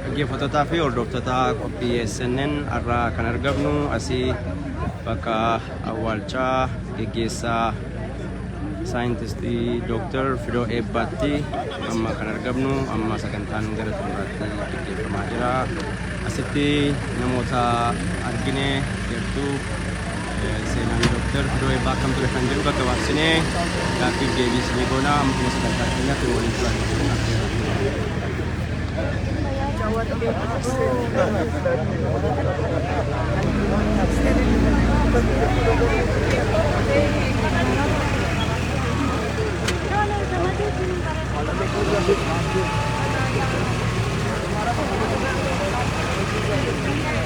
Dhaggeeffattotaa fi hordoftoota qophii SNN har'aa kan argamnu asii bakka awwaalchaa geggeessaa saayintistii Dooktar Fidoo Eebbaatti amma kan argamnu amma sagantaan gara xumuraatti gaggeeffamaa jira. Asitti namoota argine jirtu Seenaan Dooktar Fidoo Eebbaa akkam ture kan jedhu gaggabaabsinee gaaffiif deebii isinii goona amma dhuma sagantaa keenyaatti nu waliin turaa jechuun affeerra.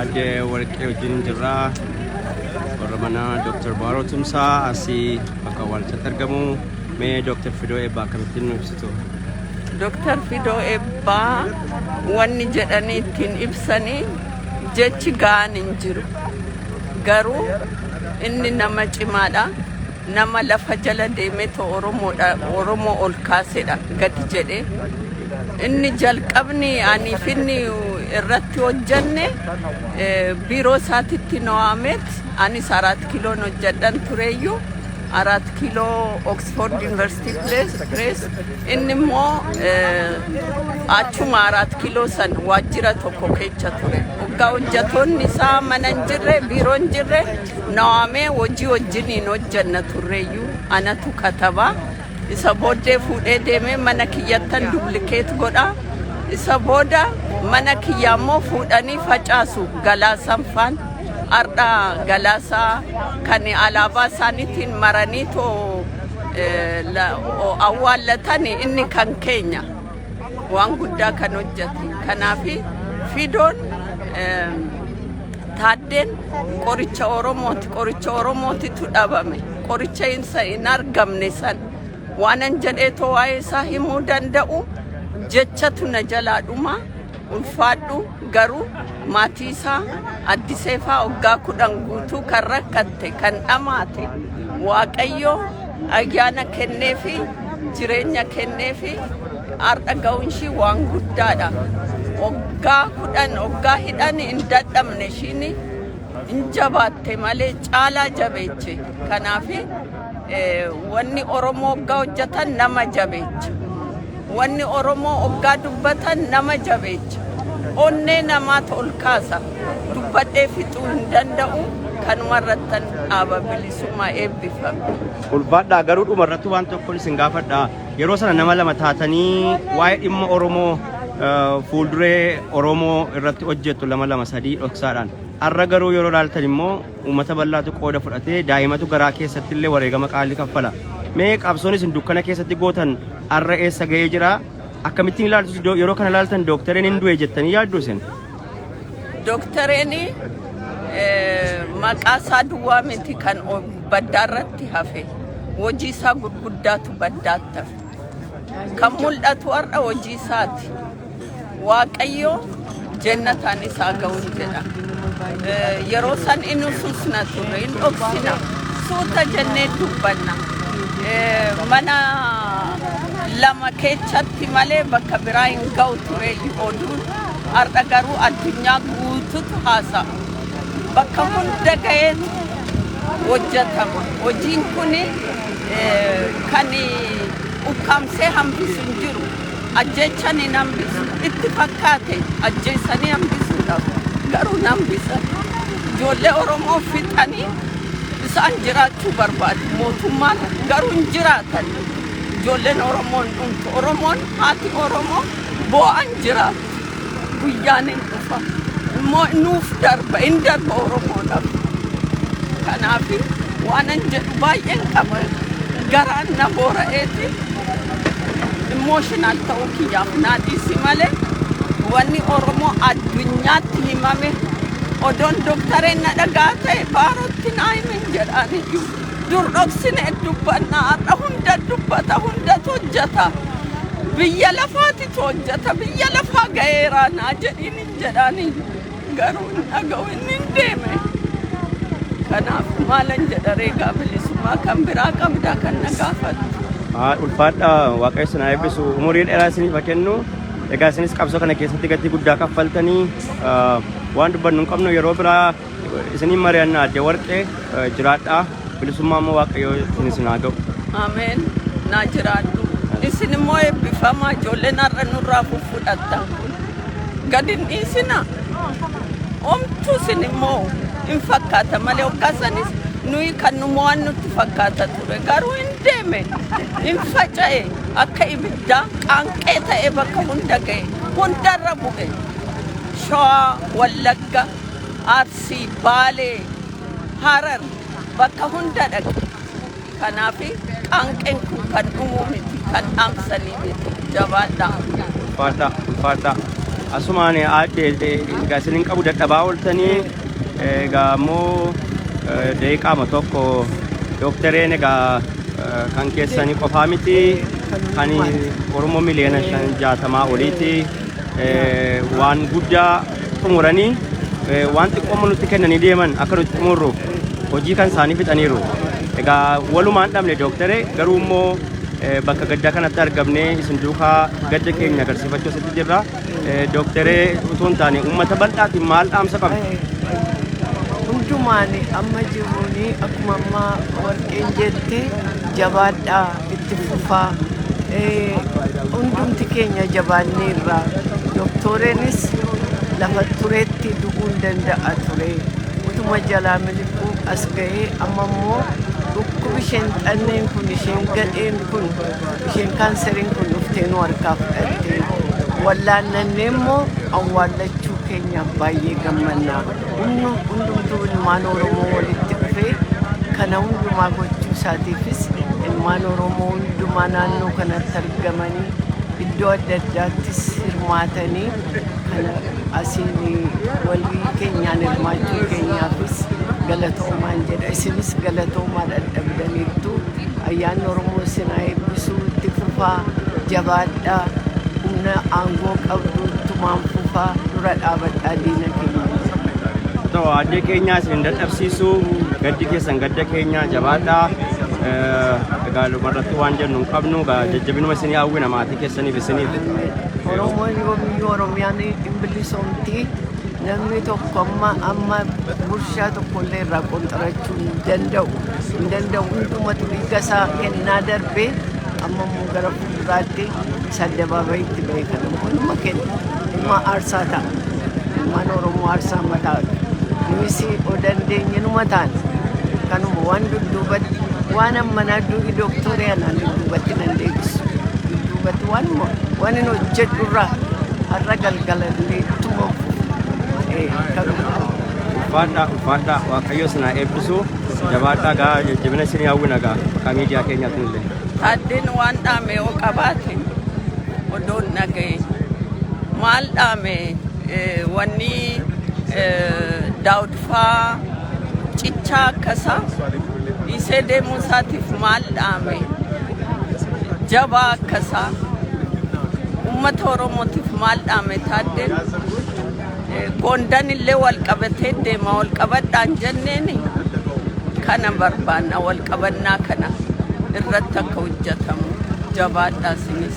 Aadde Warqee wajjin jirra. Warra mana Dr. Baaroo Tumsaa asii bakka awwaalchaatti argamu. Mee Dr. Fidoo Eebbaa akkamittiin nu ibsitu? Dr. Fidoo Eebbaa wanni jedhanii ittiin ibsanii jechi ga'aan hin jiru. Garuu inni nama cimaadha. Nama lafa jala deemeetoo Oromoodha, Oromoo ol kaasedha gadi jedhe. Inni jalqabni aniif inni irratti hojjanne eh, biiroo isaatitti no'aameet anis araat kiiloon hojjadhan tureeyyuu araat kiiloo Oxford University Press, Press. inni immoo eh, achuma araat kiiloo san waajjira tokko keessa ture. Waggaa hojjatoonni isaa mana hin jirre, biiroo hin jirre Nawaamee hojii wajjiniin hojjanna turreeyyuu anatu kataba. Isa booddee fuudhee deemee mana kiyyattan dublikeet godha. Isa booda mana kiyya ammoo fuudhanii facaasu galaasaan faan. Ardha galaasaa kan alaabaa isaaniitiin maranii too awwaallatan inni kan keenya waan guddaa kan hojjate. Kanaaf fidoon Taaddeen qoricha Oromooti. Qoricha Oromootitu dhabame. Qoricha isa hin argamne san waanan jedhee too waa'ee isaa himuu danda'u jechatu na jalaa dhuma ulfaadhu garuu maatii isaa addiseefaa waggaa kudhan guutuu kan rakkatte kan dhamaate waaqayyo ayyaana kenneefi jireenya kenneefi Har'a ga'uun ishii waan guddaadha. Waggaa kudhan waggaa hidhan hin dadhabne ishiin hin jabaatte malee caalaa jabeeche. Kanaaf wanni Oromoo waggaa hojjetan nama jabeecha. Wanni Oromoo waggaa dubbatan nama jabeecha. Onnee namaatu ol kaasa. Dubbadhee fixuu hin danda'u. Kanuma irrattan dhaaba bilisummaa eebbifame. Ulfaadhaa garuu dhuma irratti waan tokko isin gaafadhaa. Yeroo sana nama lama taatanii waa'ee dhimma Oromoo fuulduree Oromoo irratti hojjettu lama lama sadii dhoksaadhaan. Har'a garuu yeroo ilaaltan immoo uummata bal'aatu qooda fudhatee daa'imatu garaa keessatti illee wareegama qaalii kaffala. Mee qabsoon isin dukkana keessatti gootan har'a eessa ga'ee jira? Akkamittiin ilaaltu yeroo kana ilaaltan dooktareen hin du'e jettanii yaaddu isin? Dooktareeni maqaa isaa duwwaa miti kan baddaa irratti hafe hojii isaa gurguddaatu baddaatti hafe. Kan mul'atu har'a hojii isaati. Waaqayyo jennataan isaa ga'uun jedha. Yeroo san inni ususna turre hin dhoksina suuta jennee dubbanna. Mana lama keessatti malee bakka biraa hin ga'u ture oduun. Har'a garuu addunyaa guututu haasa'a. Bakka hunda ga'eetu hojjetama. Hojiin kun kan ukkaamsee hambisu hin jiru. Ajjeechan hin hambisu. Itti fakkaate ajjeessanii hambisuudhaaf garuu hin hambisan. Ijoollee Oromoo fixanii isaan jiraachuu barbaadu mootummaan garuu hin jiraatan. Ijoolleen Oromoo hin dhumtu. Oromoon haati Oromoo boo'an jira guyyaan hin dhufa immoo nuuf darba hin darba oromoodhaaf kanaaf waanan jedhu baay'een qaba garaan na boora'eeti immooshinal ta'uu kiyyaaf naa dhiisi malee wanni oromoo addunyaatti himame odoon doktareen na dhagaa ta'e baarootti naa himin jedhaan iyyuu Dur dhoksinee dubbanna har'a hunda dubbata hundatu hojjata. Biyya lafaatitu hojjata biyya lafaa ga'eeraa naa jedhiin hin jedhaani garuu hin dhaga'u inni hin deeme. Kanaaf maalan jedha reegaa bilisummaa kan biraa qabdaa kan na gaafatu. Haa ulfaadhaa waaqayyo isin haa eebbisu umurii dheeraa isiniif haa kennu egaa isinis qabsoo kana keessatti gatii guddaa kaffaltanii ah, waan dubbannu hin qabnu yeroo biraa Isiniin mari'anna adde warqee jiraadhaa bilisummaa immoo waaqayyoo isin isin haa ga'u. Ameen. Naa jiraadhu. Isin immoo eebbifamaa ijoolleen har'a nurraa fudhattan kun. Gad hin dhiisina. Omtuu isin immoo hin fakkaata malee hoggasanis nuyi kan nu mo'an nutti fakkaata ture. Garuu hin deeme. Hin faca'e. Akka ibiddaa qaanqee ta'ee bakka hunda ga'e. Hundarra bu'e. Shawaa, Wallagga, Arsii, Baalee, Harar bakka hunda dhaqe. Kanaaf qaanqeen kun kan dhumuu miti, kan dhaamsanii miti. Jabaadhaa. Ulfaadhaa, ulfaadhaa. Asumaan aadde egaa isin hin qabu dadhabaa ooltanii egaa immoo deeqaama tokko dooktareen egaa kan keessanii qofaa miti kan Oromoo miliyoona shan jaatamaa oliiti waan guddaa xumuranii waan xiqqooma nutti kennanii deeman akka nuti xumurruuf hojii kan isaanii fixaniiru. Egaa walumaan dhabne dooktaree garuu immoo bakka gaddaa kanatti argamnee isin duukaa gadda keenya agarsiifachuu asitti jirra. Dooktaree utuu hin taane uummata bal'aatiin maal dhaamsa qabna? Hundumaan amma jiruun akkuma amma warqeen jette jabaadhaa. itti fufaa hundumti keenya jabaannee irraa doktoreenis lafa tureetti du'uun danda'a ture utuma jalaa miliquu as ga'ee amma immoo dhukkubi isheen xanneen kun isheen gadheen kun isheen kaanseriin kun dhuftee nu harkaa fudhattee wallaannannee immoo awwaallachuu keenyaaf baay'ee gammannaa Humni hundumtuu ilmaan Oromoo walitti dhufee kana hundumaa gochuu isaatiifis ilmaan Oromoo hundumaa naannoo kanatti argamanii iddoo adda addaattis hirmaatanii kana asiin walii keenyaan hirmaachuu keenyaafis galatoomaan jedha isinis galatoomaa dhadhabdaniittu. Ayyaanni Oromoo isin haa eebbisu itti fufaa jabaadhaa humna aangoo qabdu tumaan fufaa dura dhaabadhaa diina keenya. Ta'u addee keenyaa isin dadhabsiisu gaddi keessan gadda keenyaa jabaadhaa. Egaa irratti waan jennu hin qabnu egaa jajjabinuma isinii hawwina maatii keessaniif isiniif. Oromoon yoomiyyuu Oromiyaan hin bilisoomti. Namni tokko amma amma gurshaa tokko illee irraa qonxarachuu hin danda'u. Hin danda'u hundumatu dhiiga isaa kennaa darbee amma immoo gara fuulduraatti isa addabaabayitti ba'e kana hunduma kenna. Ilma aarsaa ta'a. Ilmaan Oromoo aarsaa mataa nunis o dandeenye numa taana. Kanuma waan dudduubatti waan ammanaa duubi dooktorii anaan dudduubatti nan deebisu. Dudduubatti waanuma waan hin hojjedhu irraa har'a gal Galanni tuma Ulfaadhaa ulfaadhaa waaqayyo isin haa eebbisu jabaadhaa gaa jajjabina isin hawwina gaa maqaa miidiyaa keenyaatiin illee. Addin waan dhaame yoo qabaate odoon dhagaye maal dhaame wanni daawud faa cichaa akkasa dhiisee deemuu isaatiif maal dhaame jabaa akkasa ummata oromootiif maal dhaame taaddeen Eh, goondan illee wal qabatee deema wal qabadhaan jenneen kana barbaanna wal qabannaa kana irratti akka hojjetamu jabaadhaa sinis.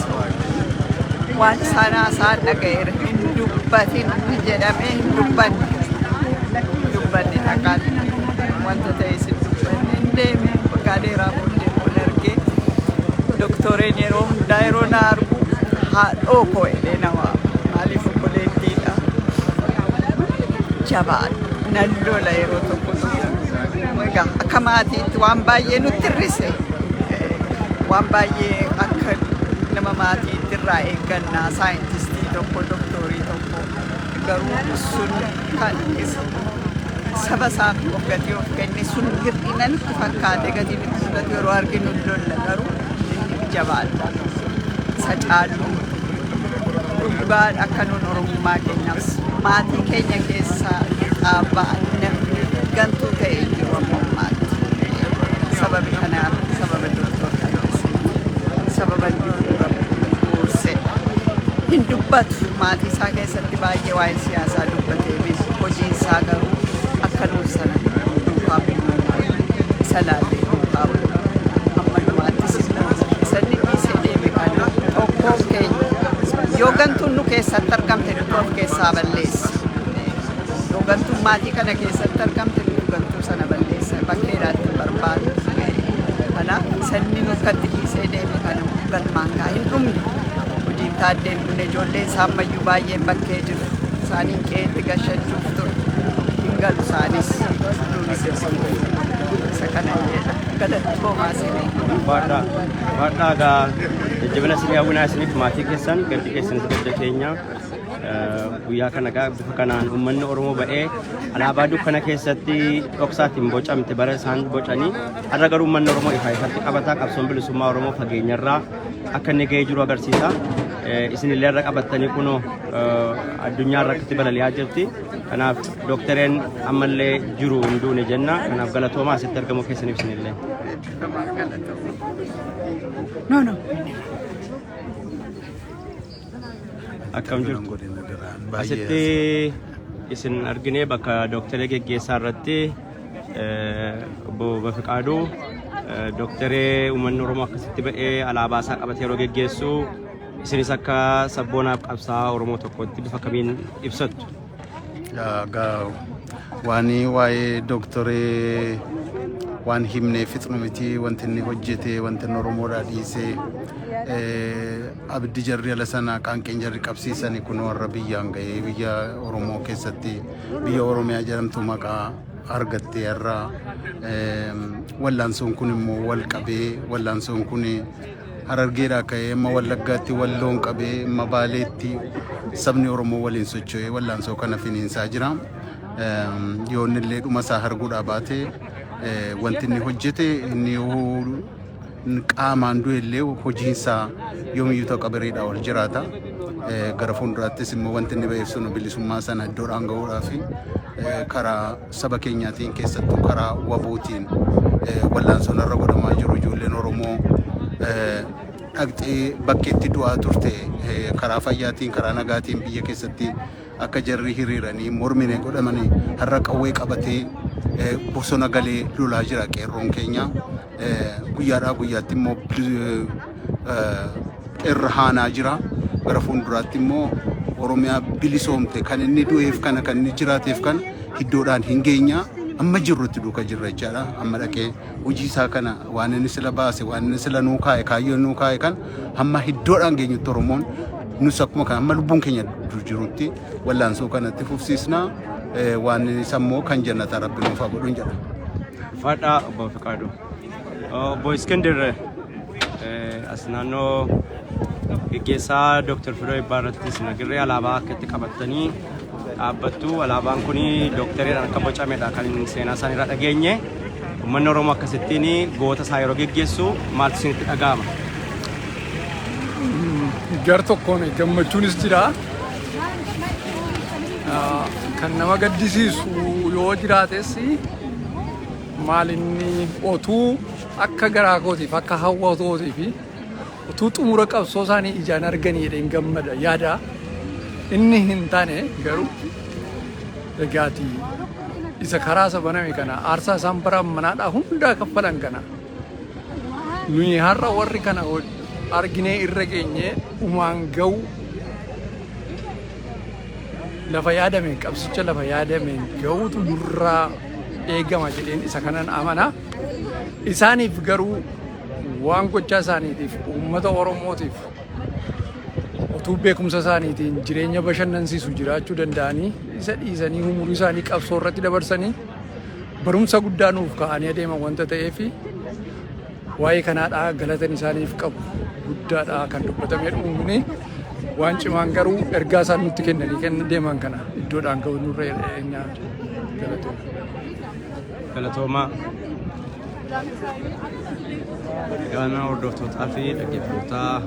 waan isaan haasa'an dhaga'eera hin dubbatin jedhamee hin dubbanne dubbanne dhaqaan wanta ta'e isin dubbanne hin deeme waggaa dheeraa booddee kun argee doktoreen yeroo hundaa yeroo na argu haadhoo koo jedhee nama maaliif obboleettiidha jabaan nan lola yeroo tokko Egaa akka maatiitti waan baay'ee nutti hir'ise waan baay'ee akka nama maatiitti irraa eegganna saayintistii tokko doktoorii tokko garuu sun kan saba isaaf of gatii of kenne sun hir'ina nutti fakkaate gatii nutti fudhatu yeroo arginu lolla garuu inni jabaadha isa caaluu Dhugaa akka nuun Oromummaa keenyaaf maatii keenya keessa ba'an namni gantuu ta'e hin jiru amma ammaatti. Sababi kanaaf sababa doktor Tayyoosin sababa inni dura buuse hin dubbatu maatii isaa keessatti baay'ee waa'ee siyaasaa dubbateefis hojiin isaa garuu akka nuuf sana duukaa bu'uun isa laallee duukaa bu'u amma dhumaattis isa dhiisee deeme kana tokkoo keenya yoo gantuun nu keessatti argamte nuti of keessaa balleessa yoo gantuun maatii kana keessatti argamte nuti gantuu sana balleessa bakkeedhaatti barbaadu kanaaf sanni nuuf katti dhiisee deeme kana galmaan gaa hin dhumne hojiin taaddee Kun ijoollee isaammayyuu baay'een bakkee jiru. Isaaniin qe'eetti gashachuuf ture. Hin galu isaanis duunis isa kana jedha. Galatoomaa isinii. Baadhaa baadhaa gaa jajjabina isinii hawwinaa isiniif maatii keessan gaddi keessan hojja keenya guyyaa kana gaa bifa kanaan uummanni Oromoo ba'ee alaabaa dukkana keessatti dhoksaatiin bocamte bara isaan bocanii har'a garuu uummanni Oromoo ifaa ifatti qabataa qabsoon bilisummaa Oromoo fageenyarraa akka inni ga'ee jiru agarsiisa. Isin illee irra qabattanii kunoo addunyaa irratti balali'aa jirti. Kanaaf dooktareen ammallee jiru hin duune jenna. Kanaaf galatoomaa asitti argamuu keessaniif isin illee. No, no. Akkam jirtu? Asitti isin arginee bakka dooktaree geggeessaa irratti Obbo Bafiqaaduu dooktaree uummanni Oromoo akkasitti ba'ee alaabaa isaa qabatee yeroo geggeessu isinis akka sabboonaaf qabsaa Oromoo tokkotti bifa kamiin ibsattu? Waan waa'ee dooktaree waan himnee fixnu miti wanti inni hojjete wanti inni Oromoodhaa dhiisee abiddi jarri ala sana qaanqeen jarri qabsiisani kun warra biyyaan ga'ee biyya Oromoo keessatti biyya Oromiyaa jedhamtu maqaa argattee irra wallaansoon kun immoo wal qabee wallaansoon kun harargeedhaa ka'ee amma wallaggaatti walloon qabee amma baaleetti sabni Oromoo waliin socho'ee wallaansoo kana finiinsaa jira. Yoonnillee dhuma isaa arguudhaa baate wanti inni hojjete inni qaamaan du'e illee hojiinsaa yoomiyyuu takka biriidhaa ol jiraata. Gara fuulduraattis immoo wanti inni ba'eef sun bilisummaa sana iddoodhaan ga'uudhaa fi karaa saba keenyaatiin keessattuu karaa wabootiin wallaansoon irra godhamaa jiru ijoolleen Oromoo dhaqxee bakkeetti du'aa turte karaa fayyaatiin karaa nagaatiin biyya keessatti akka jarri hiriiranii mormine godhamanii har'a qawwee qabatee bosona galee lolaa jira qeerroon keenya. guyyaadhaa guyyaatti immoo irra haanaa jira. Gara fuulduraatti immoo Oromiyaa bilisoomte kan inni du'eef kana kan inni jiraateef kana iddoodhaan hin geenyaa amma jirrutti duuka jirra jechaadha. Amma dhaqee hojii isaa kana waan inni sila baase waan inni sila nuu kaa'e kaayyoo nuu kaa'e kan hamma iddoodhaan geenyutti Oromoon nus akkuma kana amma lubbuun keenya jirutti wallaansoo kanatti fufsiisna waan isa immoo kan jannata rabbi nuuf haa godhu jedha. Fadhaa obbo Fiqaaduu. Obbo Iskindir as naannoo geggeessaa Dooktar Firoo Eebbaa irratti isin agarree alaabaa akka itti qabattanii dhaabbattu. Alaabaan kun dooktaridhaan akka bocamedha kan seenaa isaan irraa dhageenye. Uummanni Oromoo akkasittiin goota isaa yeroo geggeessu maaltu isinitti dhaga'ama? Gar tokkoon gammachuunis jira. Kan nama gaddisiisu yoo jiraates maal inni otuu akka garaa kootiif akka hawwa kootiif utuu xumura qabsoo isaanii ijaan arganii jedheen gammada yaada inni hin taane garuu egaati isa karaa isa baname kana aarsaa isaan bara manaadhaa hundaa kaffalan kana nuyi har'a warri kana arginee irra geenyee umaan ga'uu Lafa yaadameen qabsicha lafa yaadameen ga'uutu nurraa eegama jedheen isa kanan amana. Isaaniif garuu waan gochaa isaaniitiif uummata Oromootiif utuu beekumsa isaaniitiin jireenya bashannansiisu jiraachuu danda'anii isa dhiisanii umurii isaanii qabsoo irratti dabarsanii barumsa guddaa nuuf kaa'anii adeeman wanta ta'eef Waa'ee kanaadha galatan isaaniif qabu guddaadha kan dubbatame dhumni waan cimaan garuu ergaa isaan nutti kennanii kenna deeman kana iddoodhaan ga'u nurra eenyaa galatoon. Galatoomaa. Egaa hordoftootaa fi dhaggeeffatootaa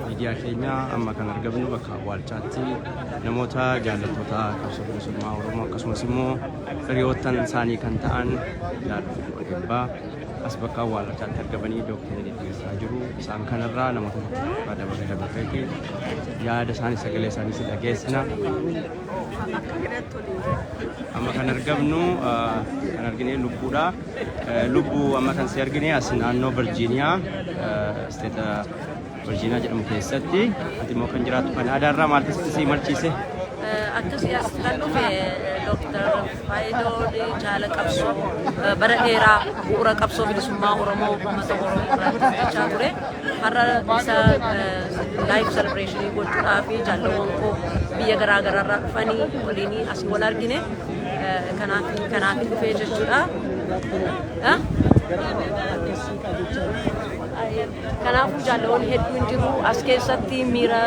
miidiyaa keenya amma kan argamnu bakka awwaalchaatti namoota jaallattoota qabsoo bilisummaa Oromoo akkasumas immoo Firiyoottan isaanii kan ta'an Yaadoo fi Odebbaa as bakka awwaallachaatti argamanii dooktarii geggeessaa jiru. Isaan kanarraa namoota tokko dabaree dabarreeti yaada isaanii sagalee isaanii si dhageessina. Amma kan argamnu kan argine lubbuudha. Lubbuu amma kan si argine as naannoo Virjiiniyaa isteeta Virginia jedhamu keessatti ati immoo kan jiraattu Kanaadaa irraa maal keessatti si imalchiise? Akkasii as kan dhufe Dooktar Faayidoon jaala qabsoo bara dheeraa bu'uura qabsoo bilisummaa Oromoo uummata Oromoo irraa hojjechaa ture. Har'a isa laayiif selebireeshinii gochuudhaa fi jaalawwan koo biyya garaa garaa irraa dhufanii waliin asii wal argine kanaaf kanaaf dhufee jechuudha. Kanaafuu jaalawwan hedduun jiru as keessatti miira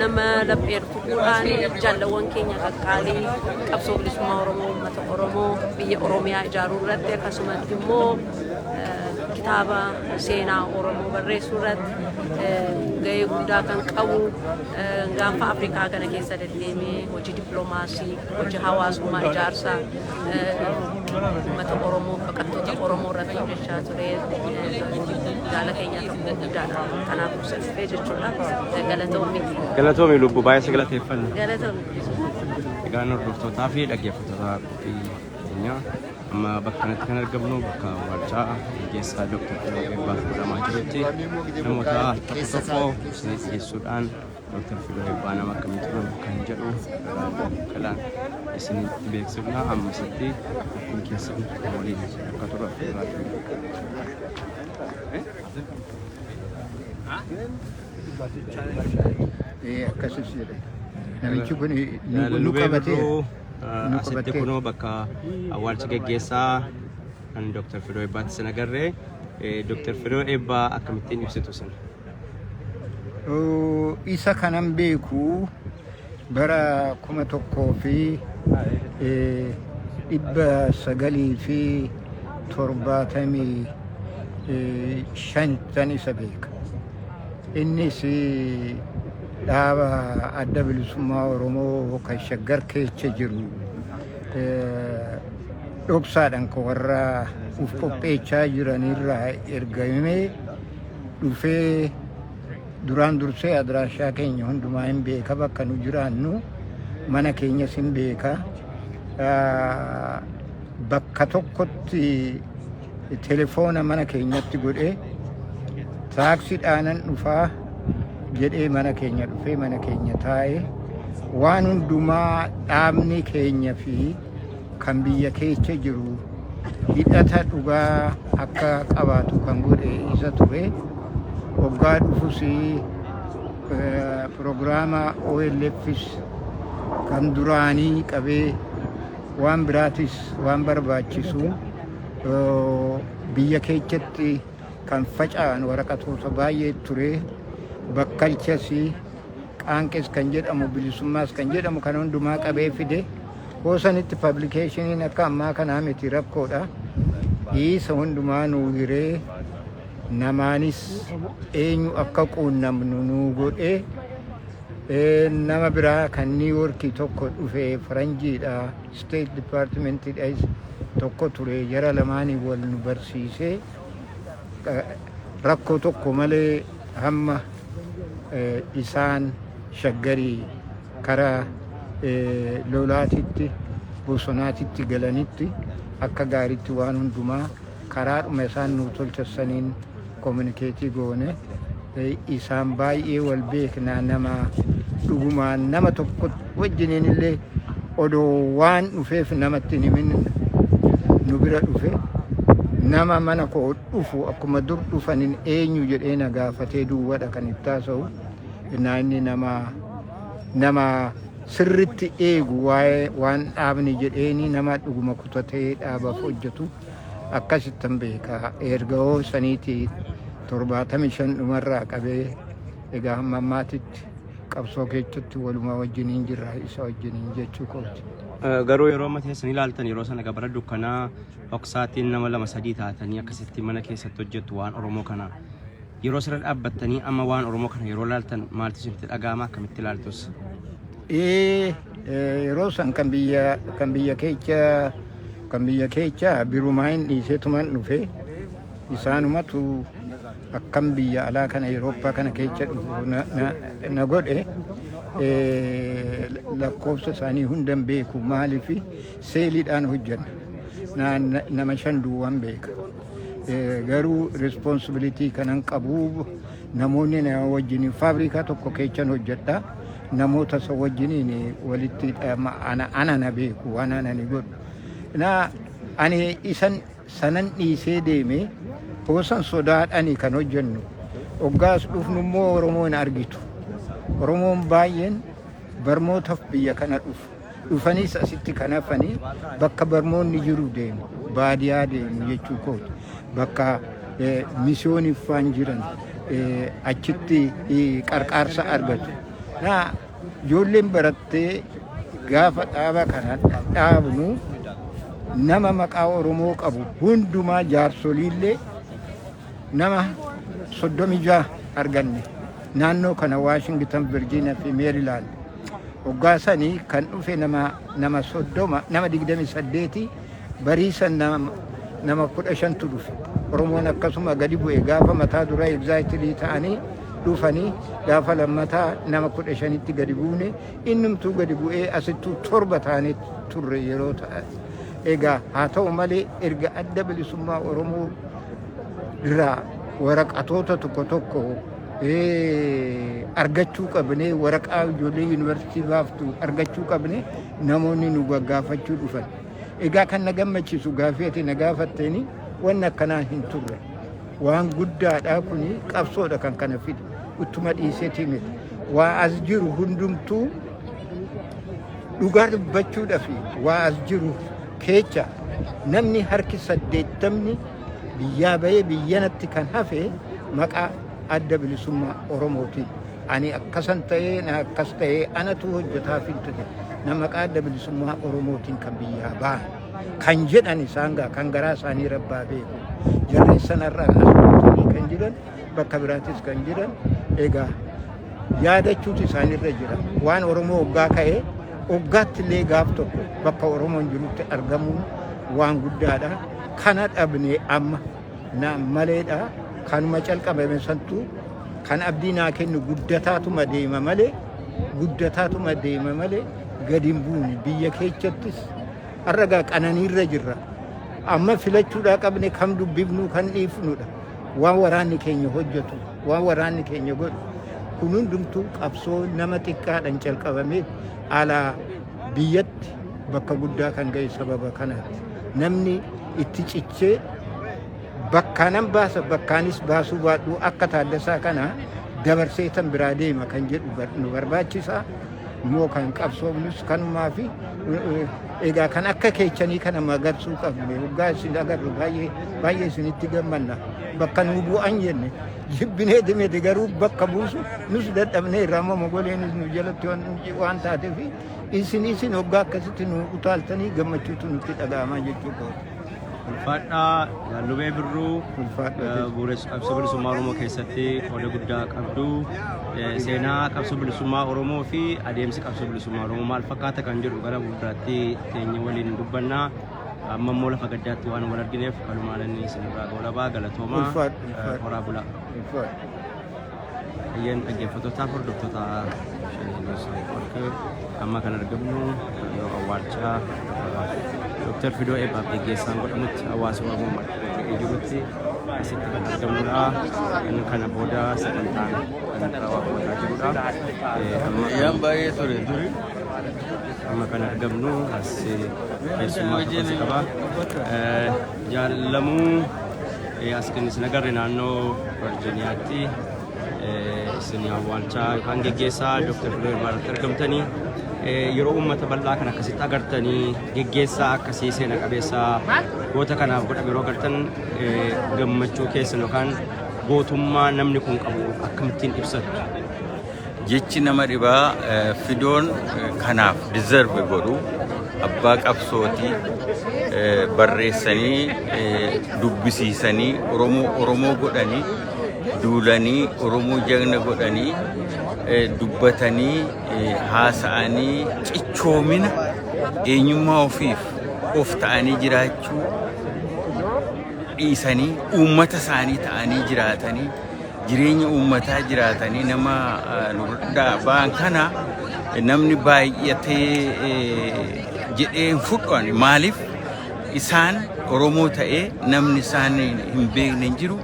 nama laphee dhufuudhaan jaalawwan keenya qaqqaalii qabsoo bilisummaa Oromoo uummata Oromoo biyya Oromiyaa ijaaruu irratti akkasumas immoo kitaaba seenaa Oromoo barreessuu irratti gahee guddaa kan qabu gaanfa Afrikaa kana keessa deddeemee hojii dippiloomaasii hojii hawaasummaa ijaarsaa uummata Oromoo baqattoota Oromoo irratti hojjechaa ture jaala keenyaa tokko guddaadha. Kanaaf ibsa dhufee jechuudha. Galatoomi. Galatoomi lubbuu baay'ee si galateeffanna. Galatoomi. Egaa hordoftootaa fi dhaggeeffattoota qophii keenyaa amma bakka kanatti kan argamnu bakka waajjira gaggeessaa Dooktar Tiroo Eebbaaf godhamaa jirutti namoota tokko tokko isiniif dhiyeessuudhaan Dr. Filo Eebbaa nama akkamii turan kan jedhu kalaan isinitti beeksifna ammasatti ittiin keessan waliin akka turan Akkasii jedhe. Namichi kun nu qabatee. Asitti kunoo bakka awwaalcha geggeessaa kan Dr. Filo Eebbaatti sin agarree Dr. Filo Eebbaa akkamittiin ibsitu sin? Isa kanan beeku bara kuma tokkoo fi dhibba sagalii fi torbaatamii shantan isa beeka. Innis dhaaba adda bilisummaa Oromoo kan shaggar keessa jiru dhoksaadhaan kan warra uf qopheechaa jiranirraa ergamee dhufee duraan dursee adiraashaa keenya hundumaa hin beeka bakka nu jiraannu mana keenyas hin beeka Ah, bakka tokkotti telefoona mana keenyatti godhee taaksiidhaanan dhufaa jedhee mana keenya dhufee mana keenya taa'ee waan hundumaa dhaabni keenya fi kan biyya keessa jiru hidhata dhugaa akka qabaatu kan godhe isa ture. Waggaa dhufus pirogiraama OLFs kan duraanii qabee waan biraatis waan barbaachisu biyya keessatti kan faca'an waraqatoota baay'ee ture bakkalchas qaanqes kan jedhamu bilisummaas kan jedhamu kan hundumaa qabee fide. Hoosanitti pablikeeshiniin akka ammaa kanaa miti rakkoodha. Dhiisa hundumaa nuu hiree namaanis eenyu akka quunnamnu nuu godhee Eh, nama biraa kan New York tokko dhufe faranjiidha State Department dhais tokko ture jara lamaanii wal nu barsiisee eh, rakkoo tokko malee hamma eh, isaan shaggarii kara lolaatitti bosonaatitti galanitti akka gaaritti waan hundumaa karaadhuma isaan nuu tolchessaniin kominikeetii goone isaan baay'ee wal beeknaa nama dhugumaan nama tokko wajjiniin illee odoo waan dhufeef namatti hin himin nu bira dhufe nama mana koo dhufu akkuma dur dhufanin eenyu jedhee na gaafatee duwwadha kan itti haasa'u. innaa inni nama nama sirritti eegu waa'ee waan dhaabni jedheeni nama dhuguma kutatee dhaabaaf hojjetu akkasittan beeka erga hoo saniiti torbaatamii shan dhumarraa qabee egaa hamma ammaatitti qabsoo keessatti walumaa wajjiniin jirra isa wajjiniin jechuu kooti. Garuu yeroo amma teessan ilaaltan yeroo sana gabara dukkanaa hoksaatiin nama lama sadii taatanii akkasitti mana keessatti hojjettu waan Oromoo kana Yeroo asirra dhaabbattanii amma waan Oromoo kana yeroo laaltan maaltu isinitti dhaga'ama akkamitti ilaaltus? Ee, ee, yeroo san kan biyya kan biyya keecha kan biyya keecha birumaa hin dhiisetuman dhufe isaanumatu akkam biyya alaa kana Awurooppaa kana keecha dhufu na- na- na godhe ee, lakkoofsa isaanii hundan beeku maaliif seeliidhaan hojjenna Na- na- nama shan duwwaan beeka Garuu responsibility kanan qabu namoonni na wajjin faabrikaa tokko keechan hojjedha. Namoota isa wajjiniin walitti ana na beeku waan ana ni godhu. Na ani isan sanan dhiisee deeme hoosan sodaadhani kan hojjennu. Oggaas dhufnu immoo Oromoo hin argitu. Oromoon baay'een barmootaaf biyya kana dhufu. Dhufaniis asitti kan hafanii bakka barmoonni jiru deemu, baadiyaa deemu jechuu kooti. Bakka eh, misiyooniif waan jiran eh, achitti eh, qarqaarsa argatu. Na ijoolleen barattee gaafa dhaaba kana dhaabnu nama maqaa Oromoo qabu hundumaa jaarsoliillee nama soddomii jaha arganne naannoo kana Waashingtan, Virginia fi Meerilaand Hoggaa sani kan dhufe nama nama soddoma nama digdami saddeeti barii san nama nama kudha shantu dhufe oromoon akkasuma gadi bu'e gaafa mataa dura egzaayitilii ta'anii dhufanii gaafa lammataa nama kudha shanitti gadi buune innumtuu gadi bu'ee asittuu torba taanee turre yeroo ta'a egaa haa ta'u malee erga adda bilisummaa oromoo irraa waraqatoota tokko tokko argachuu qabne waraqaa ijoollee yuunivarsiitii baaftu argachuu qabne namoonni nu gaggaafachuu dhufan. Egaa kan na gammachiisu gaaffii ati na gaafatteeni wanni akkanaa hin turre. Waan guddaadha kuni qabsoodha kan kana fide. Uttuma dhiisetii miti. Waa as jiru hundumtuu dhugaa dubbachuudhaaf waa as jiru keecha namni harki saddeettamni Biyyaa bahee biyyanatti kan hafe maqaa adda bilisummaa Oromootiin. Ani akkasan ta'ee na akkas ta'ee anatu hojjetaa filte na maqaa adda bilisummaa Oromootiin kan biyyaa bahan. Kan jedhan isaan gaa kan garaa isaanii rabbaa beeku. Jarreen sanarraa asirratti kan jiran bakka biraatis kan jiran egaa yaadachuutu isaanirra jira. Waan Oromoo oggaa ka'e oggaatti illee gaaf tokko bakka Oromoon jirutti argamuun waan guddaadha. kana dhabne amma na maleedha kanuma calqabame santu kan abdii naa kennu guddataatuma deema malee guddataatuma deema malee gadi hin buune biyya keechattis har'agaa qananiirra jirra amma filachuudhaa qabne kam dubbifnu kan dhiifnudha waan waraanni keenya hojjetu waan waraanni keenya godhu kun hundumtuu qabsoo nama xiqqaadhaan calqabamee alaa biyyatti bakka guddaa kan ga'e sababa kanaati. Namni itti cichee bakkaanan baasa bakkaanis baasuu baadhuu akka taaddasaa kana dabarsee tan biraa deema kan jedhu bar- nu barbaachisa. Immoo kan qabsoofnus kanumaa fi egaa kan akka keechanii kana magarsuu qabne waggaa isin agarru baay'ee baay'ee isinitti gammanna bakka nu bu'an jenne Jibbinee timeti garuu bakka buusu nus dadhabnee irraa amma mogoleenis nu jalatti waan waan taateef isin isin hoggaa akkasitti nu utaaltanii gammachuutu nutti dhaga'amaa jechuu kooti. Ulfaadhaa Jaallubee Birruu Ulfaadhaa eh, jechuudha. bu'uuressa qabsoo bilisummaa Oromoo keessatti qooda guddaa qabdu. Eh, Seenaa qabsoo bilisummaa Oromoo fi adeemsi qabsoo bilisummaa Oromoo maal fakkaata kan jedhu gara fuulduraatti keenya waliin dubbanna. amma immoo lafa gaddaatti waan wal argineef kanumaan inni isinirraa goolabaa galatoomaa Ulfaadhu, ulfaadhu. eh, horaa bulaa. Ulfaadhu. Ayyeen dhaggeeffattootaaf hordoftoota Shanee Gosa Network amma kan argamnu naannoo awwaalchaa Dooktar Fidoo Eebbaaf geggeessaan godhamutti hawaasa Oromoo marfee jirutti asitti kan argamnudha. Inni kana booda sagantaan kan irraa waaqeffataa jirudha. Eh, amma kan- Ayyaan baay'ee ture duri. Amma kan argamnu as keessummaa tokkotu qaba. Jaalamuu as kan isin agarre naannoo Virjiniyaatti isin awwaalchaa yookaan geggeessaa Dr. Biroo Irmaarratti argamtanii yeroo uummata bal'aa kan akkasitti agartanii geggeessaa akkasii seena qabeessaa goota kanaaf godhame yeroo agartan gammachuu keessan yookaan gootummaa namni kun qabu akkamittiin ibsatu. Jechi nama dhibaa eh, fidoon eh, kanaaf deserve godhu abbaa qabsooti eh, barreessanii eh, dubbisiisanii Oromoo Oromoo godhanii duulanii Oromoo jagna godhanii eh, dubbatanii eh, haasa'anii cichoomina eenyummaa ofiif of ta'anii jiraachuu dhiisanii uummata isaanii ta'anii jiraatanii jireenya uummataa jiraatanii nama nurraa ba'an kana namni baay'atee jedhee hin fudhanne maaliif isaan Oromoo ta'ee namni isaan hin beekne hin jiru.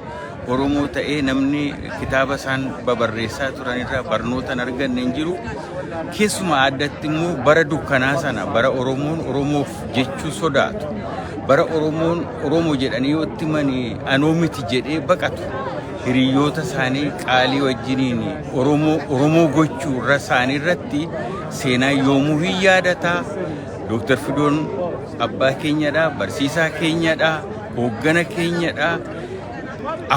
Oromoo ta'ee namni kitaaba isaan babarreessaa turan irraa barnoota hin arganne hin jiru. Keessumaa addatti immoo bara dukkanaa sana bara Oromoon Oromoof jechuu sodaatu. Bara Oromoon Oromo jedhanii yoo itti manii anoo miti jedhee baqatu. Hiriyoota isaanii qaalii wajjiniin Oromoo Oromoo gochuu irra isaanii irratti seenaa yoomuu hin yaadata. Dooktar Fidoon abbaa keenyadha, barsiisaa keenyadha, hooggana keenyadha.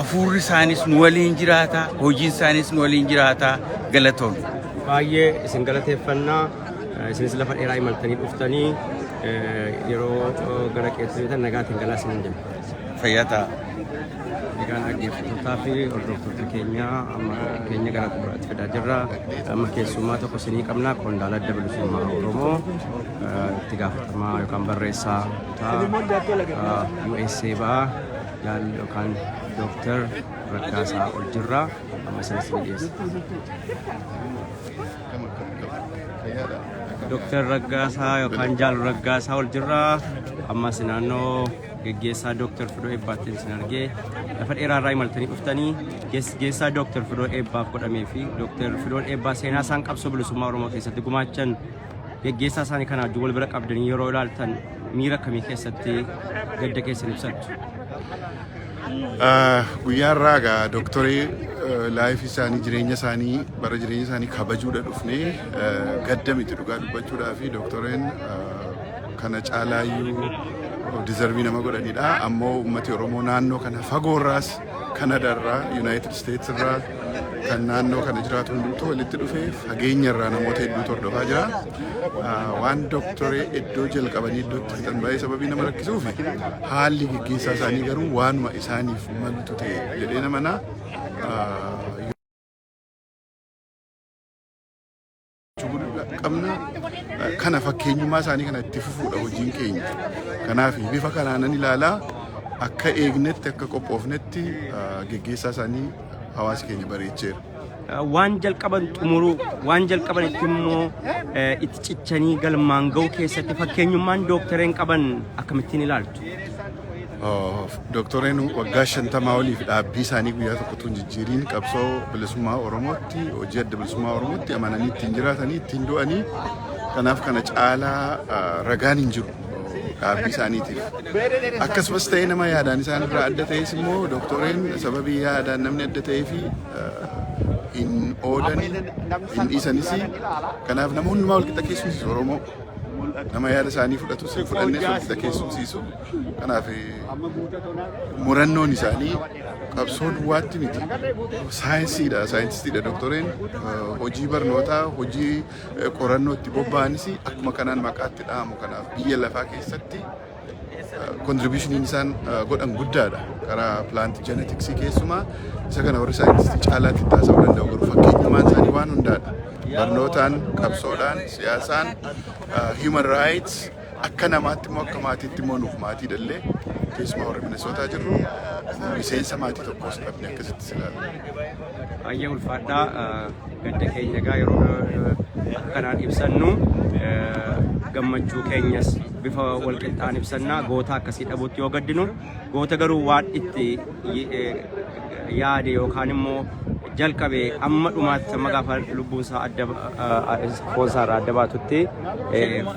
Afuurri isaanis nu waliin jiraata, hojiin isaanis nu waliin jiraata. Galatoomna. Baay'ee isin galateeffannaa. Isinis lafa dheeraa imaltanii dhuftanii yeroo gara keessanii tan nagaatiin galaa isinin jenna. Fayyaa ta'a. Egaan dhaggeeffattootaa fi hordoftoota keenya amma keenya gara xumuraatti fidaa jirra. Amma keessummaa tokko isinii qabna qondaala adda bilisummaa Oromoo itti gaafatamaa yookaan barreessaa kutaa USA ba'aa yaal yookaan dooktar Raggaasaa ol jirra. Amma isinis ni dhiyeessa. Dooktar Raggaasaa yookaan Jaalu Raggaasaa ol jirra. Ammas naannoo geggeessaa Dooktar Fidoo Eebbaattiin isin argee lafa dheeraa irraa imaltanii dhuftanii geggeessaa Dooktar Fidoo Eebbaaf godhamee fi Dooktar Fidoon Eebbaa seenaa isaan qabsoo bilisummaa Oromoo keessatti gumaachan geggeessaa isaanii kana wajjin wal bira qabdanii yeroo ilaaltan miira akkamii keessatti gadda keessan ibsattu? Guyyaa irraa egaa dooktorii laayif isaanii jireenya isaanii bara jireenya isaanii kabajuudha dhufnee gadda miti dhugaa dubbachuudhaa fi dooktoriin kana caalaayyuu dizarvii nama godhanidha. Ammoo uummati Oromoo naannoo kana fagoorraas Kanadarraa, Yuunaayitid Isteets irraa kan naannoo kana jiraatu hundumtuu walitti dhufee fageenya irraa namoota hedduu hordofaa jira. waan doktoree iddoo jalqabanii iddootti fixan baay'ee sababii nama rakkisuuf haalli gaggeessaa isaanii garuu waanuma isaaniif malutu ta'e jedhee namanaa qabna kana fakkeenyummaa isaanii kana itti fufuudha hojiin keenya kanaaf bifa kanaanan ilaalaa akka eegnetti akka qophoofnetti geggeessaa isaanii hawaasi keenya bareecheera. waan jalqaban xumuruu waan jalqaban itti immoo itti cichanii galmaan ga'uu keessatti fakkeenyummaan dooktareen qaban akkamittiin ilaaltu? Dooktoreen waggaa shantamaa oliif dhaabbii isaanii guyyaa tokkotu hin jijjiiriin qabsoo bilisummaa Oromootti hojii adda bilisummaa Oromootti amananii ittiin jiraatanii ittiin du'anii kanaaf kana caalaa ragaan hin jiru. dhaabbii isaaniitiif akkasumas ta'ee nama yaadaan isaan irraa adda ta'es immoo dooktoreen sababii yaadaan namni adda ta'ee fi hin oolan hin dhiisanis kanaaf nama hundumaa walqixa keessumsiisu Oromoo nama yaada isaanii fudhatu sin fudhanne walqixa keessumsiisu kanaaf murannoon isaanii qabsoo duwwaatti miti saayinsiidha saayintistiidha dooktoreen hojii barnootaa hojii qorannootti bobba'anis akkuma kanaan maqaatti dha'amu kanaaf biyya lafaa keessatti kontribushiniin isaan godhan guddaadha karaa pilaanti jenetiksii keessumaa isa kana warri saayintistii caalaatti itti haasa'uu danda'u garuu fakkeenyummaan isaanii waan hundaadha barnootaan qabsoodhaan siyaasaan human rights Akka namaatti immoo akka maatiitti immoo nuuf maatiidha illee keessumaa warri Minnesootaa jirru miseensa maatii tokkos dhabne akkasitti si ilaalla. Baay'ee ulfaadhaa gadda keenya egaa yeroo akkanaan ibsannu gammachuu keenyas bifa walqixxaan ibsannaa goota akkasii dhabuutti yoo gaddinu goota garuu waan itti yaade yookaan immoo jalqabe amma dhumaatti amma gaafa lubbuun isaa adda foon isaa irraa adda baatutti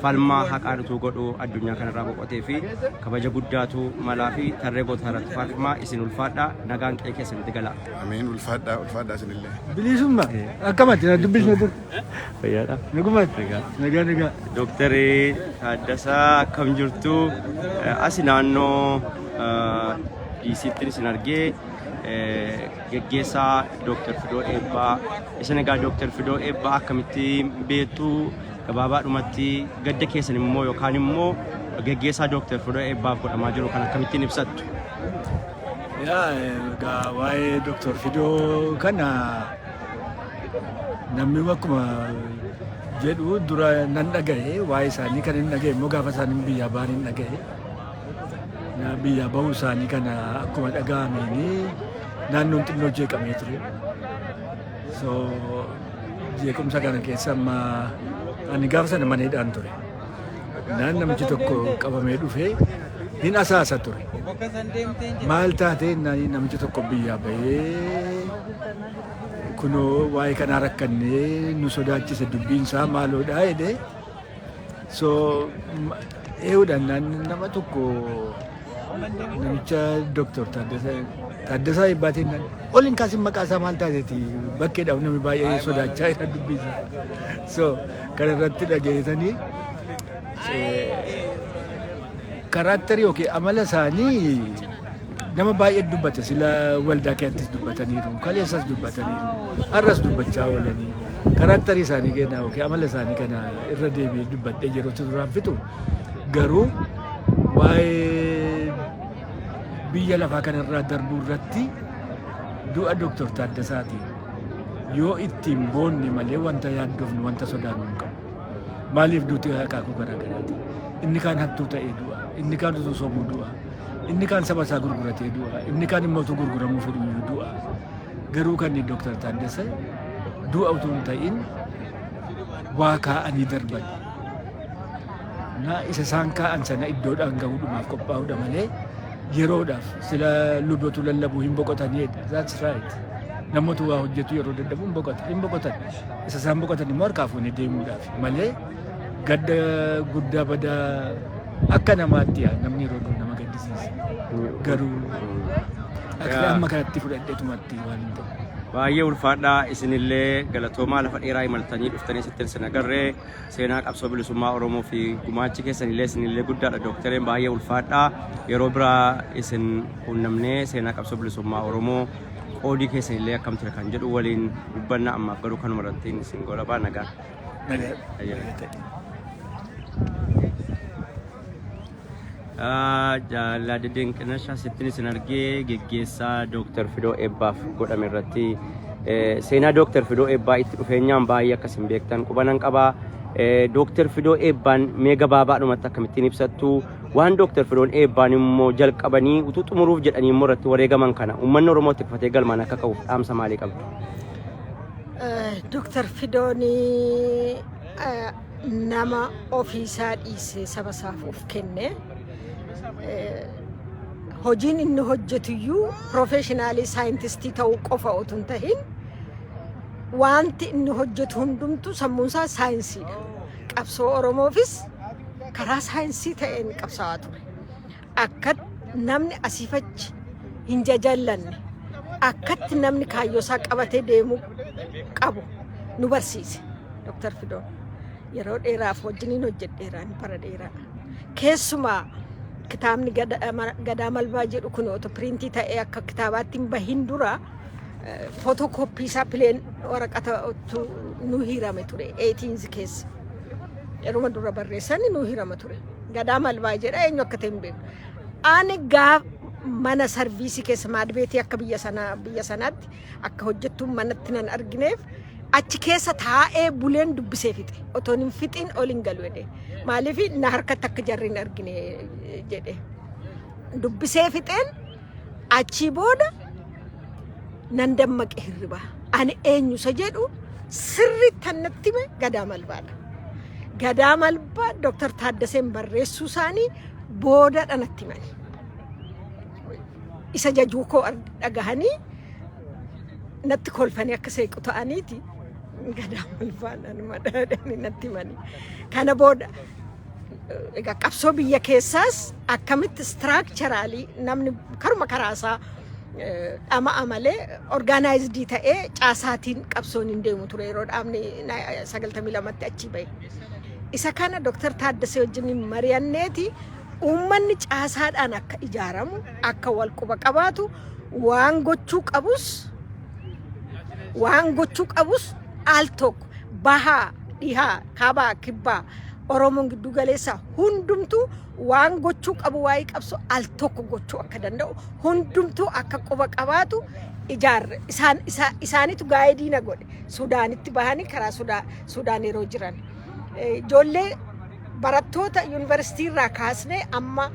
falmaa haqaa nutuu godhu addunyaa kanarraa boqotee fi kabaja guddaatu malaa fi tarree gootaa irratti faarfamaa isin ulfaadha nagaan qe'ee keessanitti galaa. Ameen ulfaadhaa ulfaadhaa isinillee. Bilisumma akkamatti na dubbisne dur. Fayyaadha. Nagumaan. Nagaa nagaa. Doktari Taaddasaa akkam jirtu? Asi naannoo DC'tti isin argee geggeessaa Dooktar Fidoo Eebbaa. Isin egaa Dooktar Fidoo Eebbaa akkamitti beektu gabaabaadhumatti gadda keessan immoo yookaan immoo geggeessaa Dooktar Fidoo Eebbaaf godhamaa jiru kan akkamittiin ibsattu? Yaa egaa waa'ee Dooktar Fidoo kana Namni akkuma jedhu dura nan dhaga'e waa'ee isaanii kan hin dhaga'e immoo gaafa isaanii biyyaa ba'an hin dhaga'e. Na- Biyyaa ba'uu isaanii kana akkuma dhaga'ameeni naannoon xinnoo jeeqamee ture. So jeequmsa kana keessa amma ani gaafa sana maneedhaan ture. Naan namichi tokko qabamee dhufee hin asaasa ture. Maal taatee naan namichi tokko biyyaa bahee kunoo waa'ee kanaa rakkannee nu sodaachise dubbiin isaa maaloodhaa jedhee so eeguudhaan naan nama tokko Namicha Dooktor Taaddasaa Taaddasaa Eebbaatiin nan ol hin kaasin maqaa isaa maal taateeti bakkeedhaaf namni baay'ee sodaachaa jira dubbisa. So kana irratti dhageessanii karaaktarii yookiin amala isaanii nama baay'ee dubbate sila waldaa keessattis dubbataniiru kaleessas dubbataniiru har'as dubbachaa oolanii karaaktarii isaanii kennaa yookiin amala isaanii kana irra deebi'ee dubbadhee yeroo turaan fitu garuu waa'ee biyya lafaa kanarraa darbuu irratti du'a Dooktar Taaddasaatiin yoo ittiin boonne malee wanta yaaddofnu wanta sodaannu hin qabu. Maaliif duuti akaakuu garaa garaati? Inni kaan hattuu ta'ee du'a, inni kaan utuu sobuu du'a, inni kaan saba isaa gurguratee du'a, inni kaan immoo utuu gurguramuu fedhuyyuu du'a. Garuu kan Dooktar Taaddasa du'a utuu hin ta'in waa kaa'anii darban. Naa isa isaan kaa'an sana iddoodhaan gahuudhumaaf qophaa'uudha malee yeroodhaaf sila lubatu lallabu hin boqotaniidha. That's right. Namoota waa hojjetu yeroo dadhabu hin boqotan. Hin boqotan. Isa isaan boqotan immoo harkaa fuunee deemuudhaaf malee gadda guddaa badaa akka namaatti yaa namni yeroo du'u nama gaddisiisa. Garuu akka amma kanatti fudhadheetumatti waan hin ta'u. Baay'ee ulfaadhaa isinillee galatoomaa lafa dheeraa imaltanii dhuftanii sittin sin agarree seenaa qabsoo bilisummaa Oromoo fi gumaachi keessanillee isinillee guddaadha dooktareen baay'ee ulfaadhaa yeroo biraa isin quunnamnee seenaa qabsoo bilisummaa Oromoo qoodii keessanillee akkam ture kan jedhu waliin dubbanna ammaaf garuu kanuma irratti isin goolabaa nagaa. Nagaa. Ayyaana. Jaallaa Dedeenqinashaa sittin isin argee geggeessaa Dooktar Fidoo Eebbaaf godhame irratti seenaa Dooktar Fidoo Eebbaa itti dhufeenyaan baay'ee akkas hin beektan qubanan qaba. Dooktar Fidoo Eebbaan mee gabaabaadhumatti akkamittiin ibsattu waan Dooktar Fidoon Eebbaan immoo jalqabanii utuu xumuruuf jedhanii immoo irratti wareegaman kana uummanni Oromoo itti kufatee galmaan akka qabuuf dhaamsa maalii qabdu? Dooktar Fidoon nama ofiisaa dhiisee saba isaaf of kenne eh, hojiin inni hojjetuyyuu piroofeeshinaalii saayintistii ta'uu qofa otoo hin tahin wanti inni hojjetu hundumtu sammuunsaa saayinsiidha. Qabsoo Oromoofis karaa saayinsii ta'een qabsaa'aa ture. Akkatti namni asiif achi hin jajallanne, akkatti namni kaayyoosaa qabatee deemuu qabu nu barsiise Dr. Fidoon. Yeroo dheeraaf wajjiniin hojjedheera ani bara dheeraa. Keessumaa kitaabni Gada- Ma- Gadaa Malbaa jedhu kun otoo piriintii ta'ee akka kitaabaatti hin bahin dura footokooppii isaa pileen waraqata ottuu nu hiirame ture 18 keessa. Yeruma dura barreessanii nu hiirama ture. Gadaa malbaa jedha eenyu akka ta'e hin beeku. Ani gaa mana sarviisii keessa maadbeetii akka biyya sana biyya sanaatti akka hojjettuun manatti nan argineef achi keessa taa'ee buleen dubbisee fixe. Otoon hin fixiin ol hin galu jedhe. Maaliif na harkatti akka jarri hin argine jedhe. Dubbisee fixeen Achii booda nan dammaqe hirribaa. Ani eenyu isa jedhu sirriitti annatti hime Gadaa Malbaadha. Gadaa Malbaa Dooktar Taaddaseen barreessuu isaanii boodadha natti himani. Isa jajuu koo arg- dhagahanii natti kolfanii akka seequ ta'aniiti. Gadaa Malbaa nan madadani natti himani. Kana booda egaa qabsoo biyya keessaas akkamitti istiraakcharaalii namni karuma karaasaa eh, dhama'a malee orgaanaayizidii ta'ee caasaatiin qabsoon hin deemu ture yeroo dhaabni na- 92tti achii bahe. Isa kana Dr. Taaddasee wajjin mari'anneeti uummanni caasaadhaan akka ijaaramu akka wal quba qabaatu waan gochuu qabus waan gochuu qabus al tokko bahaa dhihaa kaabaa kibbaa oromoon gidduu galeessa hundumtuu waan gochuu qabu waa'ee qabsu al tokko gochuu akka danda'u hundumtuu akka quba qabaatu ijaarre isaan isaa- isaanitu gaa'idii na godhe sudaanitti bahanii karaa sudaa sudaan yeroo jiran Eh, ijoollee barattoota yuunivarsiitii irraa kaasnee amma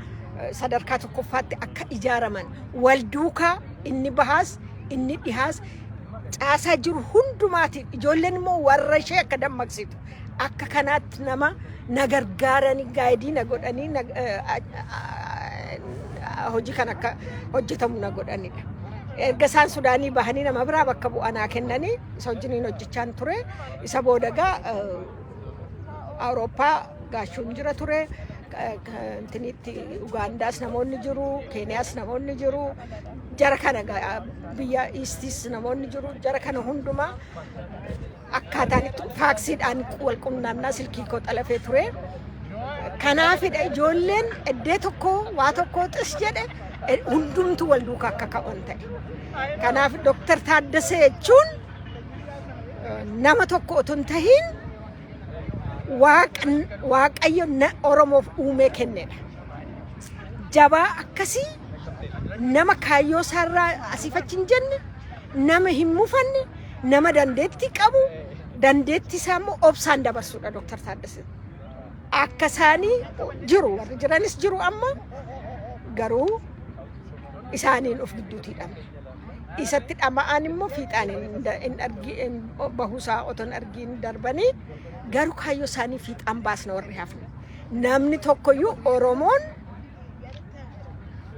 eh, sadarkaa tokkoffaatti akka ijaaraman wal duukaa inni bahaas inni dhihaas caasaa jiru hundumaatiif ijoolleen immoo warra ishee akka dammaqsitu akka kanaatti nama na gargaaranii gaayidii na godhanii na- eh, ah, hojii kan akka hojjetamu na godhanidha. Erga isaan Sudaanii bahanii nama biraa bakka bu'aa naa kennanii isa wajjiniin hojjechaan ture isa booda egaa eh, Awurooppaa gaachuun jira ture. Intinitti Ugaandaas namoonni jiru, Keeniyaas namoonni jiru, jara kana biyya Iistis namoonni jiru, jara kana hundumaa akkaataan itti faaksiidhaan wal qunnamnaa silkii koo xalafee ture. Kanaafidha ijoolleen eddee tokko waa tokko xis jedhe hundumtu wal duukaa akka ka'an ta'e. Kanaaf Dooktar Taaddasee jechuun nama tokko otoo hin tahin waaqn- waaqayyo na- oromoof uumee kennedha jabaa akkasii nama kaayyoo isaarraa asiif achi hin jenne nama hin mufanne nama dandeettii qabu dandeettii isaa immoo obsaan dabarsuudha Dr. Taaddasee. Akka isaanii jiru warri jiranis jiru amma garuu isaaniin of gidduutii dhabne. isatti dhama'aan immoo fiixaan bahuusaa otoo hin argiin darbanii garuu kaayyoo isaanii fiixaan baasna warri hafne. Namni tokkoyyuu Oromoon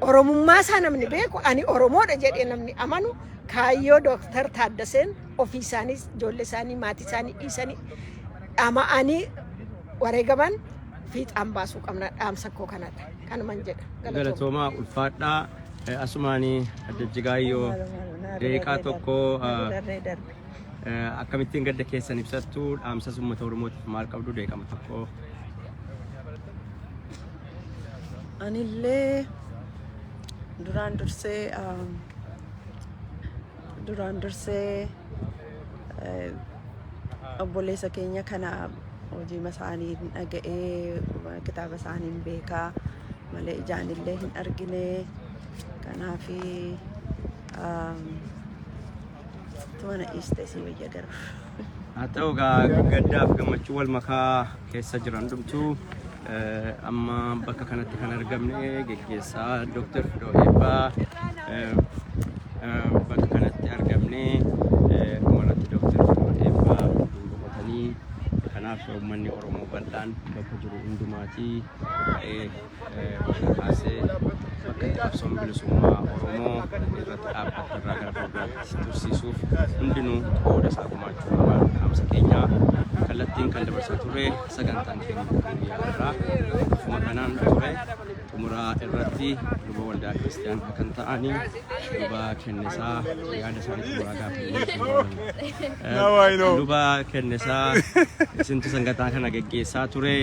Oromummaa isaa namni beeku ani Oromoodha jedhee namni amanu kaayyoo Dooktar Taaddaseen ofii isaaniis ijoollee isaanii maatii isaanii dhiisanii dhama'anii wareegaman fiixaan baasuu qabna dhaamsa koo kanadha kanuman jedha galatoomaa. galatoomaa ulfaadhaa Asumaani adda jigaayyoo deeqaa tokko akkamittiin gadda keessan ibsattu dhaamsas uummata Oromootiif maal qabdu deeqama tokko. Anillee duraan dursee Duraan dursee obboleessa keenya kana hojiima isaanii hin dhaga'ee kitaaba isaanii hin beekaa malee ijaan illee hin argine kanaaf tumana dhiiste sii wayya garuu. haa ta'u gaa gaddaaf gammachuu wal makaa keessa jiran dhumtu amma bakka kanatti kan argamne geggeessaa Dr. Fidoo Eebbaa bakka kanatti argamne dhumarratti Dr. Fidoo Eebbaa boqotanii kanaaf uummanni Oromoo bal'aan bakka jiru hundumaatii irraa kaasee bakka itti qabsoon bilisummaa Oromoo irratti dhaabbatu irraa gara fuulduraatti tursiisuuf hundinuu qooda isaa gumaachuu qaba. Dhaamsa keenya kallattiin kan dabarsaa ture sagantaan keenya guyyaa irraa akkuma kanaan ture xumuraa irratti luba waldaa kiristiyaanaa kan ta'anii luba kennisaa yaada isaanii xumuraa gaaffii Now I know. luba kennisaa isintu sagantaa kana geggeessaa ture.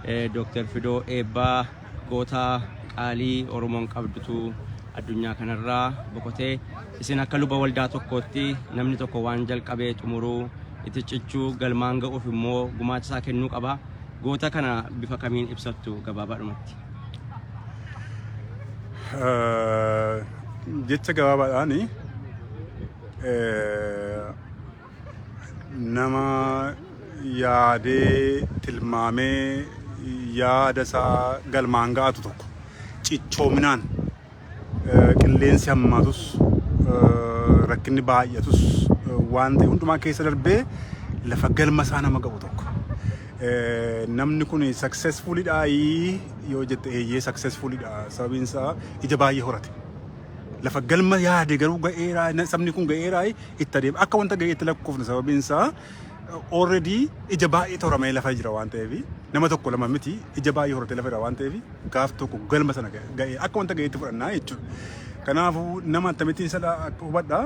Dooktar Fidoo Eebbaa goota qaalii Oromoon qabdutu addunyaa kanarraa boqote. Isin akka luba waldaa tokkootti namni tokko waan jalqabee xumuruu itti cichuu galmaan ga'uuf immoo gumaacha isaa kennuu qaba. Goota kana bifa kamiin ibsattu gabaabaadhumatti? Eh, Jecha gabaabaadhaani eh, nama yaadee tilmaamee yaada isaa galmaan ga'atu tokko cichoominaan eh, qilleensi hammaatus eh, rakkinni baay'atus eh, waan ta'e hundumaa keessa darbee lafa galma isaa nama ga'u tokko. Eh, Namni kun successfulidha yoo jette eeyyee successfulidha sababiin isaa ija baay'ee horate. lafa galma yaade garuu ga'eeraa na- sabni kun ga'eeraa itti adeema. Akka wanta ga'eetti lakkoofna sababiin isaa already ija baay'ee toramee lafa jira waan ta'eef nama tokko lama miti ija baay'ee horatee lafa jira waan ta'eef gaaf tokko galma sana ga'ee akka wanta ga'eetti fudhannaa jechuudha. Kanaafuu nama akkamittiin isa hubadha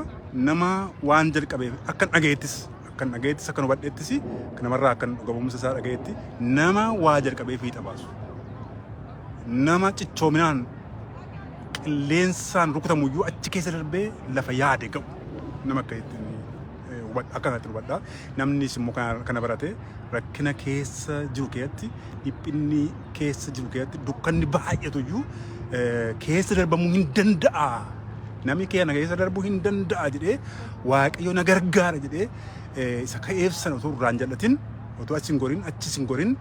nama waan jalqabeef akkan dhaga'eettis akkan dhaga'eettis akkan hubadheettis kan namarraa akkan dhugamumsa isaa dhaga'eetti nama waa jalqabee fiixa baasu. nama cichoominaan qilleensaan rukutamu iyyuu achi keessa darbee lafa yaade ga'u nama akka ittiin eh, hubadha akka kanatti hubadha namnis immoo kana kana barate rakkina keessa jiru keessatti dhiphinni keessa jiru keessatti dukkanni baay'atu iyyuu eh, keessa darbamuu hin danda'a namni keenya keessa darbuu hin danda'a jedhee waaqayyo na gargaara jedhee eh, isa ka'eef sana utuu irraan jal'atin utuu achi hin gorin achi hin gorin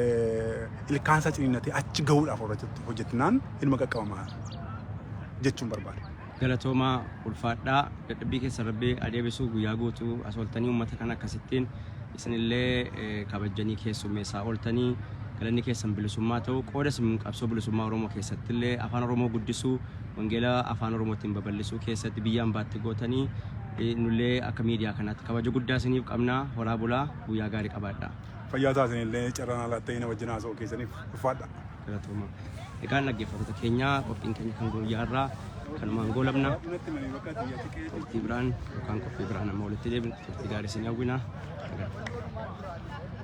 eh, ilkaan isaa ciniinnatee achi gahuudhaaf hojjetu- hojjetnaan inuma qaqqabama jechuun barbaada. galatoomaa ulfaadhaa dadhabbii keessa rabbi adeebisuu guyyaa guutuu as ooltanii uummata kana akkasittiin isinillee eh, kabajjanii keessummeessaa ooltanii galanni keessan bilisummaa ta'u qooda isin qabsoo bilisummaa oromoo keessattillee afaan oromoo guddisuu wangeela afaan oromootiin babal'isuu keessatti biyya ambaatti gootanii eh, nullee akka miidiyaa kanaatti kabaja guddaa isiniif qabnaa horaa bulaa guyyaa gaarii qabaadhaa. Fayyaa ta'a isinillee carraa naa laattanii na wajjin haasa'uu keessaniif ulfaadha. Galatooma. Egaan dhaggeeffattoota keenya qophiin keenya kan guyyaa irraa kanumaan goolabna. Turtii biraan yookaan qophii biraan amma walitti deebina. Turtii gaarii isin hawwina. Nagaan.